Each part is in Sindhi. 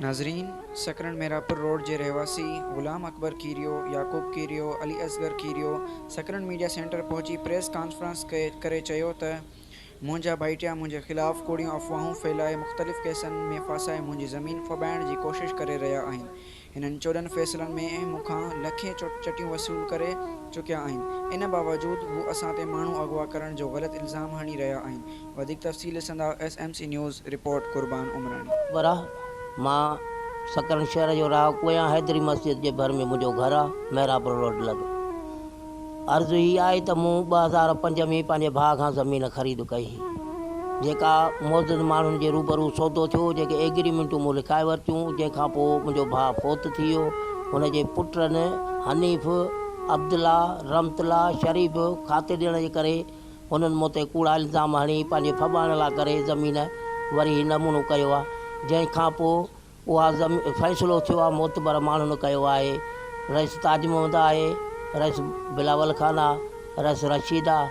ناظرين! سڪرنڊ ميرانپور روڊ جي رهواسي غلام اڪبر کيريو، يعقوب کيريو، علي اصغر کيريو سڪرنڊ ميڊيا سينٽر پهچي پريس ڪانفرنس ڪري چيو ته منهنجا ڀائٽيا منهنجي خلاف ڪوڙيون افواهون ڦهلائي مختلف ڪيسن ۾ ڦاسائي منهنجي زمين ڦٻائڻ جي ڪوشش ڪري رهيا آهن هنن چوڏهن فيصلن ۾ مون کان لکين چٽيون وصول ڪري چڪيا آهن، ان باوجود هو اسان تي ماڻهو اغوا ڪرڻ جو غلط الزام هڻي رهيا آهن، وڌيڪ تفصيل ڏسندا S M C news, report Qurban Umrani. وراهه، مان سڪرنڊ شهر جو رهاڪو آهيان، حيدري مسجد جي ڀر ۾ منهنجو گهر آهي، محراب روڊ لڳ. عرض هي آهي ته مون ٻه هزار پنج ۾ پنهنجي ڀاء کان زمين خريد ڪئي هئي، جيڪا معزز ماڻهن جي روبرو سودو ٿيو، جيڪي ايگريمينٽون مون لکائي ورتيون، جنهن کان پوء منهنجو ڀاء فوت ٿي ويو، هن جي پٽن حنيف، عبدالله، رحمت الله، شريف کاتي ڏيڻ جي ڪري هنن مون تي ڪوڙا الزام هڻي پنهنجي ڦٻائڻ لاء ڪري زمين وري هي نمونو ڪيو آهي، جنهن کان پوء اها زمين فيصلو ٿيو آهي معتبر ماڻهن ڪيو آهي رئيس تاج محمد آهي رئيس بلاول خان آهي رئيس رشيد آهي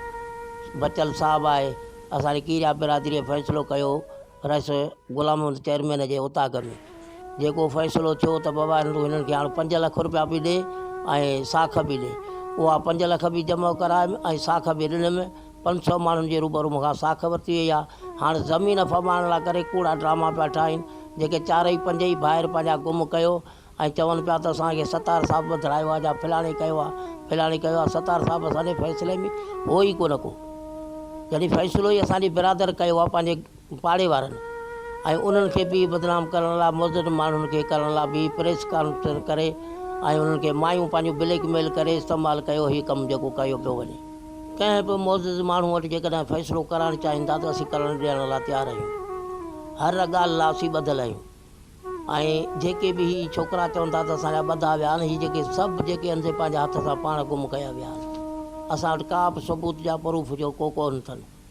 بچل صاحب آهي اسان جي ڪيريا برادري فيصلو ڪيو رئيس غلام محمد چيئرمين جي اوطاق ۾ جيڪو فيصلو ٿيو ته بابا تون هنن کي هاڻ پنج لک روپيا به ڏي ۽ ساک به ڏي اها پنج لک به جمع ڪرايم ۽ ساک به ڏنم پنج سؤ ماڻهن جي روبرو مون کان ساک ورتي وئي آهي. هاڻ زمين ڦٻائڻ لاء ڪري ڪوڙا ڊراما پيا ٺاهين. جيڪي چارئي پنج ئي ڀائر پنهنجا گم ڪيو ۽ چون پيا ته اسان کي ستار صاحب وڌڙايو آهي جا ڦلاڻي ڪيو آهي ڦلاڻي ڪيو آهي ستار صاحب اسان جي فيصلي ۾ هو ئي ڪونه ڪو جڏهن فيصلو ئي اسان جي برادر ڪيو آهي پنهنجي پاڙي وارن ۽ انهن کي به بدنام ڪرڻ لاء مضر ماڻهن کي ڪرڻ لاء به پريس ڪانفرنس ڪري ۽ انهن کي مايون پنهنجون بليڪ ميل ڪري استعمال ڪيو هي ڪم جيڪو ڪيو پيو وڃي ڪنهن به معزز ماڻهو وٽ جيڪڏهن فيصلو ڪرائڻ چاهيندا ته اسين ڪرڻ ڏيڻ لاء تيار آهيون هر ڳالهه لاء اسين ٻڌل آهيون ۽ جيڪي به هي ڇوڪرا چون ٿا ته اسان جا ٻڌا ويا آهن هي جيڪي سڀ جيڪي انڌي پنهنجي هٿ سان پاڻ گم ڪيا ويا آهن اسان وٽ ڪا به ثبوت جا پروف جو ڪو ڪون ٿن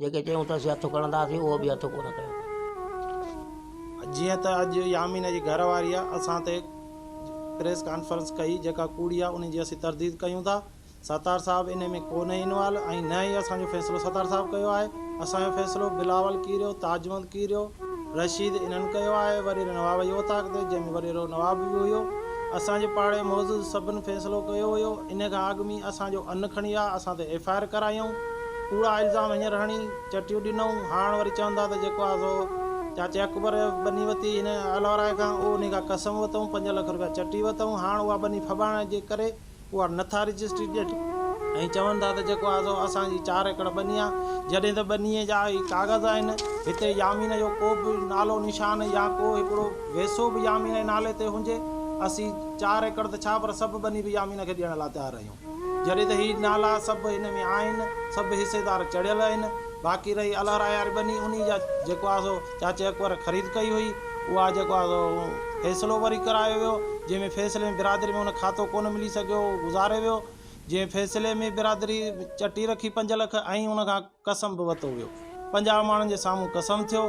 جيڪي چيون ته اسين هٿ کڻنداسين اهو به هٿ ڪونه کنيو اٿن. جيئن ته اڄ يامين جي گهر واريء اسان تي پريس ڪانفرنس ڪئي جيڪا ڪوڙي آهي ان جي اسين ترديد ڪيون ٿا. ستار صاحب ان ۾ ڪونهي انوالو ۽ نه ئي اسان جو فيصلو ستار صاحب ڪيو آهي. اسان جو فيصلو بلاول ڪيريو، تاجوند ڪيريو، رشيد انهن ڪيو آهي. وڏيري نواب جي اوطاق تي جنهن ۾ وڏيرو نواب به هيو. اسان جي پاڙي معزز سڀن فيصلو ڪيو هيو. ان کان اڳ ۾ اسان جو ان کڻي آ اسان تي ايف آء آر ڪرايائون. ڪوڙا الزام هينئر هڻي چٽيون ڏنئون، هاڻ وري چوندا ته جيڪو آهي سو چاچي اڪبر ٻني ورتي هن الهورائي کان، او انهي کان قسم ورتئون، پنج لک روپيا چٽي ورتئون، هاڻ اها ٻني ڦٻائڻ جي ڪري اها نٿا رجسٽري ڏين. ۽ چون ٿا ته جيڪو آهي سو اسان جي چار ايڪڙ ٻني آهي، جڏهن ته ٻنيء جا هي ڪاغذ آهن، هتي يامين جو ڪو به نالو نشان يا ڪو هڪڙو ويسو به يامين جي نالي تي هجي، اسين چار ايڪڙ ته ڇا پر سڀ ٻني به يامين کي ڏيڻ لاء تيار آهيون. جڏهن ته هي نالا سڀ هن ۾ آهن، سڀ حصيدار چڙهيل آهن، باقي رهي الهراء واري ٻني، انهي جا جيڪو آهي سو چاچي اڪبر خريد ڪئي هئي، اها جيڪو آهي سو فيصلو وري ڪرايو ويو، جنهن ۾ فيصلي ۾ برادري ۾ ان کاتو ڪونه ملي سگهيو، اهو گذاري ويو، جنهن فيصلي ۾ برادري چٽي رکي پنج لک ۽ ان کان. قسم به وتو ويو. پنجاهه ماڻهن جي سامهون قسم ٿيو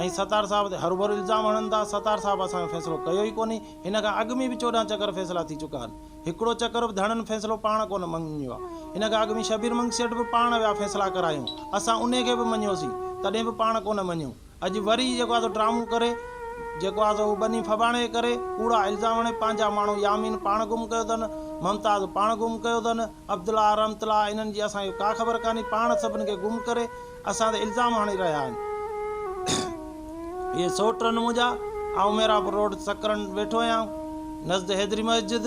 ۽ ستار صاحب تي هروڀرو الزام هڻن ٿا. ستار صاحب اسان جو فيصلو ڪيو ئي ڪونهي. هن کان اڳ ۾ به چوڏهن چڪر فيصلا ٿي چڪا آهن. هڪڙو چڪر به ڌڻن فيصلو پاڻ ڪونه مڃيو آهي. ان کان اڳ ۾ شبير منگي سيٺ به پاڻ ويا فيصلا ڪرايائون. اسان انهي کي به مڃيوسين. تڏهن به پاڻ ڪونه مڃيو. اڄ وري جيڪو آهي سو ڊرامو ڪري جيڪو آهي سو اهو ٻني ڦٻاڻي جي ڪري ڪوڙا الزام هڻي پنهنجا ماڻهو يامين پاڻ گم ڪيو اٿن ممتاز پاڻ گم ڪيو اٿن عبدالله رحمت الله انهن جي اسان کي ڪا خبر ڪانهي پاڻ سڀني کي گم ڪري اسان تي الزام هڻي رهيا آهن اهي سوٽ آهن منهنجا آئون ميرا پور روڊ سڪرنڊ ويٺو آهيان نزد حيدري مسجد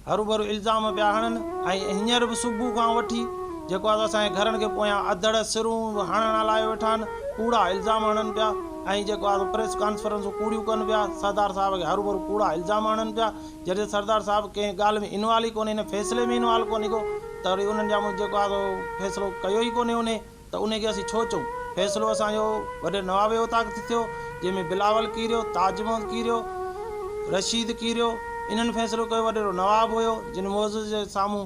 هروڀرو الزام پيا هڻن ۽ هينئر به صبح کان وٺي جيڪو آهي سو اسان جي گهرن کي پويان اڌڙ سرون به هڻڻ هلايو ويٺا آهن، ڪوڙا الزام هڻن پيا ۽ جيڪو آهي سو پريس ڪانفرنسون ڪوڙيون ڪن پيا، سردار صاحب کي هروڀرو ڪوڙا الزام هڻن پيا، جڏهن سردار صاحب ڪنهن ڳالهه ۾ انوالو ئي ڪونهي، ان فيصلي ۾ انوالو ڪونهي ڪو ته وري انهن جا مون جيڪو آهي سو فيصلو ڪيو ئي ڪونهي انهي. ته انهي کي اسين ڇو چئون؟ فيصلو اسان جو وڏي نوابي اوطاق تي ٿيو، جنهن ۾ بلاول ڪيريو، تاج محمد ڪيريو، رشيد ڪيريو، انهن فيصلو ڪيو، وڏيرو نواب هيو، جن معزز جي سامهون.